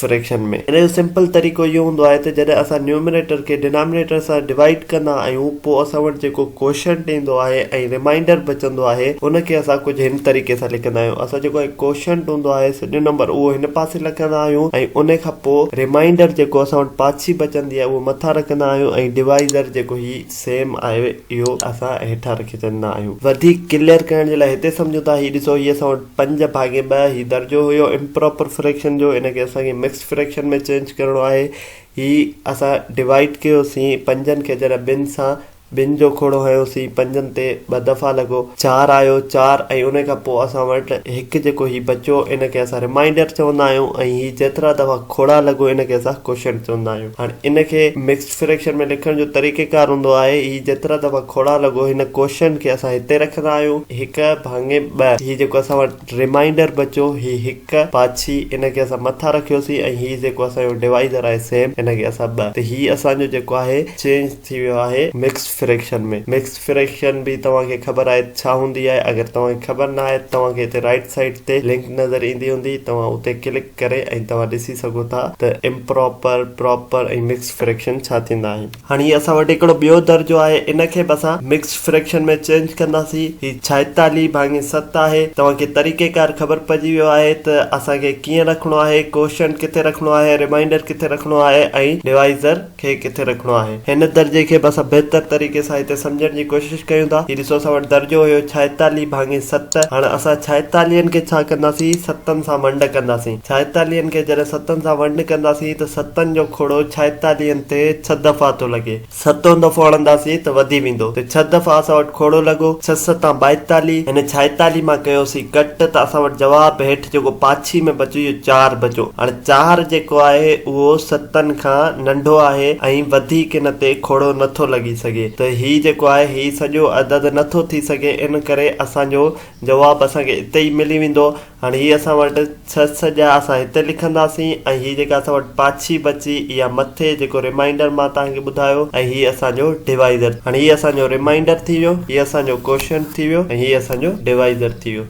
Fraction ۾. ان جو simple طريقو اهو هوندو آهي ته جڏهن اسان نيومريٽر کي ڊنامينيٽر سان ڊوائيڊ ڪندا آهيون پوء اسان وٽ جيڪو ڪوشنٽ ايندو آهي ۽ رمائينڊر بچندو آهي ان کي اسان ڪجهه هن طريقي سان لکندا آهيون اسان جيڪو هي ڪوشنٽ هوندو آهي سڄو نمبر اهو هن پاسي لکندا آهيون ۽ ان کان پوء رمائينڊر جيڪو اسان وٽ پاڇي بچندي آهي اهو مٿان رکندا آهيون ۽ ڊوائيزر جيڪو هي سيم آهي اهو اسان هيٺان رکي ڇڏيندا آهيون. وڌيڪ ڪليئر ڪرڻ جي لاء هتي سمجهون ٿا هي ڏسو هي اسان وٽ. پنج ڀاڱي ٻه هي درجو هيو امپراپر فريڪشن جو ان کي اسان کي مڪسڊ فريڪشن ۾ چينج ڪرڻو آهي هي اسان ڊوائيڊ ڪيوسين پنجن کي جڏهن ٻن سان ٻن جو کوڙو هنيوسين پنجن تي ٻه دفعا لڳو چار آيو چار ۽ ان کان پوء اسان وٽ هڪ جيڪو هي بچو ان کي اسان رمائنڊر چوندا آهيون ۽ هي جيترا دفعا کوڙا لڳو ان کي اسان ڪوشنٽ چوندا آهيون هاڻي ان کي مڪسڊ فريڪشن ۾ لکڻ جو طريقيڪار هوندو آهي، هي جيترا دفعا کوڙا لڳو، هن ڪوشنٽ کي اسان هتي رکندا آهيون، هڪ ڀاڱي ٻه، هي جيڪو اسان وٽ ريمائينڊر بچيو، هي هڪ، پاڇي، ان کي اسان مٿان رکيوسين ۽ هي جيڪو اسان جو ڊوائيزر آهي سيم، ان کي اسان ٻه، ته هي اسان جو جيڪو آهي چينج ٿي ويو آهي مڪسڊ فريڪشن ۾. مڪسڊ فريڪشن به توهان کي خبر آهي ته ڇا هوندي آهي، اگر توهان کي خبر نه آهي ته توهان کي هتي رائيٽ سائيڊ تي لنڪ نظر ايندي هوندي، توهان اتي ڪلڪ. ڪري ۽ توهان ڏسي سگهو ٿا ته امپراپر، پراپر ۽ مڪسڊ فريڪشن ڇا ٿيندا آهن. هاڻي هي اسان وٽ هڪڙو ٻيو درجو آهي ان کي به اسان مڪسڊ فريڪشن ۾ چينج ڪنداسين. هي ڇائيتاليهه ڀاڱي ست آهي. توهان کي طريقي ڪار خبر پئجي ويو آهي ته اسان کي ڪيئن رکڻو آهي، ڪوشنٽ ڪٿي رکڻو آهي، ريمائينڊر ڪٿي رکڻو آهي ۽ ڊوائيزر. کي ڪٿي رکڻو آهي. هن درجي کي به اسان بهتر طريقي سان هتي سمجهڻ جي ڪوشش ڪيون ٿا. هي ڏسو اسان وٽ درجو هيو ڇائيتاليهه ڀاڱي ست. هاڻ اسان ڇائيتاليهن کي ڇا ڪنداسين؟ ستن سان ونڊ ڪنداسين. ڇائيتاليهن کي جڏهن ستن سان ونڊ ڪنداسين ته ستن جو کوڙو ڇائيتاليهن تي ڇهه دفعا ٿو لڳي. ستون دفعو هڻنداسين ته وڌي ويندو. ته ڇهه دفعا اسان وٽ کوڙو لڳو. ڇهه ستان ٻائيتاليهه. هن ڇائيتاليهه مان ڪيوسين ڪٽ ته اسان وٽ جواب هيٺ جيڪو پاڇي ۾ بچيو اهو چار بچو. هاڻ. چاهر جيڪو آهي اهو ستن کان ننڍو آهي ۽ وڌيڪ ان تي کوڙو نه ٿو لڳي سگهي ته هي جيڪو آهي هي سڄو عدد نه ٿو ٿي سگهي ان ڪري اسان جو جواب اسان کي اتي ئي ملي ويندو هاڻي هي اسان وٽ ڇهه سڄا اسان هتي لکنداسين ۽ هي جيڪا اسان وٽ پاڇي بچي اها مٿي جيڪو رمائينڊر مان توهان کي ٻڌايو ۽ هي اسان جو ڊوائيزر هاڻي هي اسان جو رمائينڊر ٿي ويو هي اسان جو ڪوشنٽ ٿي ويو ۽ هي اسان جو ڊوائيزر ٿي ويو.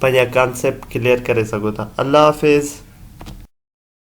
پنهنجا ڪانسيپٽ ڪليئر ڪري سگهو ٿا الله حافظ.